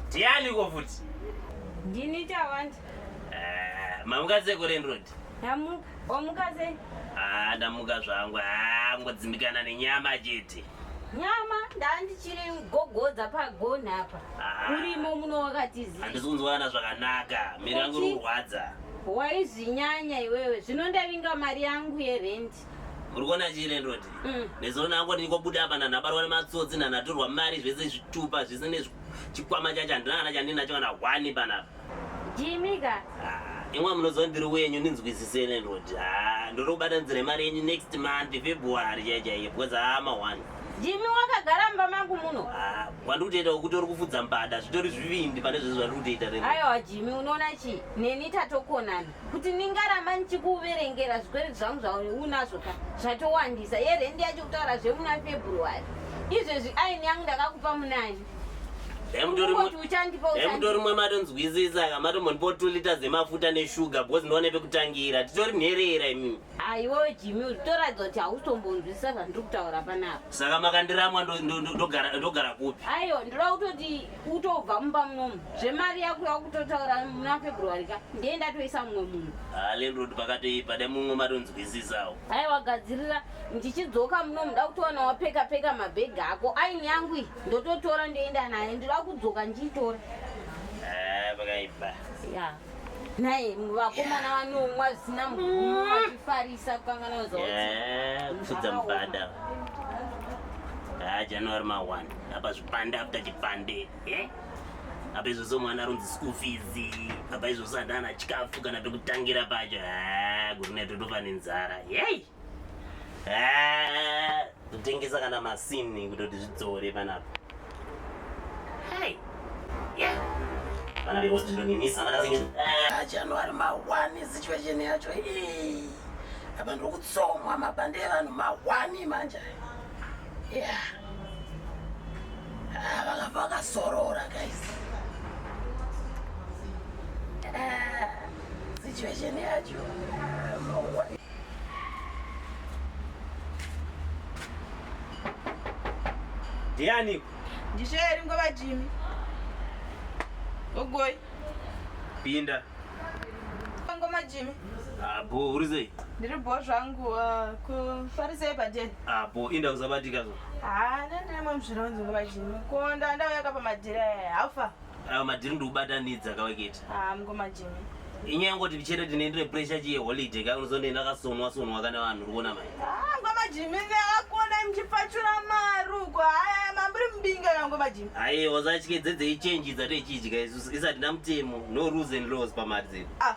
ndianiko futi ndini tawanda eh, mamuka sekurendrod amuka omuka sei ah, ndamuka zvangu ah, ngodzimbikana nenyama chete nyama ndandichiri gogodza pagoni apa ah. urimo muno wakatiziva handisi kunzwana zvakanaka miri yangu iri kurwadza waizvinyanya iwewe zvino ndavinga mari yangu yerendi uri kuona chirendoti mm. nezoona yangu ndinikobuda apa nanabarwa nematsotsi nanatorwa mari zvese zvitupa zvese nechikwama chacho handina kana chandinacho kana hwani panapa Jimmy ka. Imwa munoziva ndiri wenyu ninzwisise landlord. Ah, ndorobata nzira mari yenyu next month February chaiye chaiye because ah ma one. Jimmy wakagara mumba mangu muno. Ah, wandikutoita wekuti uri kufudza mbada zvitori zvivindi pane zvese zvandikutoita rero. Aiwa Jimmy unoona chi neni tatokonana kuti ndingaramba ndichikuverengera zvikwere zvangu zvauri unazvo ka zvatowandisa yerendi yacho kutaura zvemuna February. Izvezvi aini yangu ndakakupa munani. emutori mwe matonzwisisa ka matombondipo two liters emafuta neshuga bcause ndoone pekutangira titori nherera imimi aiwo jimi utoratidza kuti hautombonzwisisa zvandiri kutaura panapa saka makandiramwa ndogara kupi aiwa ndoda kutoti utobva mumba munomu zvemari yako yakutotaura muna february ka ndiye ndatoisa mumwe munhu halenrod ah, pakatoipa dai mumwe matonzwisisawo aiwa gadzirira ndichidzoka munomu da kutowana wapeka peka mabhegi ako aini yangu iyi ndototora ndoenda naye ndinoda kudzoka ndichitora eh, pakaipa ya naye vakomana vanomwa zvisina mugumo vachifarisa kukangana kuzofudza eh, mubada ah, january ma 1 apa zvipande after chipande eh? apa izvozvo mwana aronzi school fees apa izvozvo andana chikafu kana pekutangira pacho ah, gurunetotofa nenzara yei Ah, kutengesa kana masini kutoti zvidzore panapa Hai. Yeah. vana vekostidoninisa Ah, january mawani situation yacho ii. apa ndokutsomwa mabhande evanhu mawani manje Yeah. Ah, vakabva vakasorora guys Ah, situation yacho ah, mawani ndianiko ndisheri ngova jimi ogoi pinda ngoma jimi abo ah, uri sei ndiri bo zvangu ah, kufarisei padeni abo ah, inda kuzabatika zo ha nendine mwe muzvironzi ngova jimi konda ndauya ka pamadhiri aya haufa Ayo madhiri ndikubatanidza kaweketi. Ah, mukoma Jimmy. Inyaya yangoti chete tinoendere pressure chiye holiday kai unozondoenda kasonwa sonwa kana vanhu uri kuona mai. Ah, mukoma Jimmy ndakakona muchipfachura maruko. Haya mambiri mbinga kana mukoma Jimmy. Aye, wasatyedzedzei change dzatechidya isu isati ndamutemo no rules and laws pamari dzedu. Ah,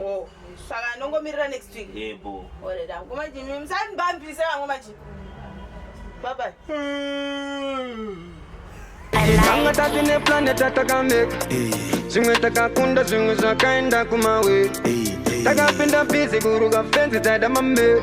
Oh, saka ndongomirira next week. Yebo. Ore da, kuma jimi msani bambi saka ngoma ji. Bye bye. Tanga tati ne planet takamek. Zimwe takakunda zimwe zvakaenda kumawe. Takapinda busy kuruka fence taida mambe.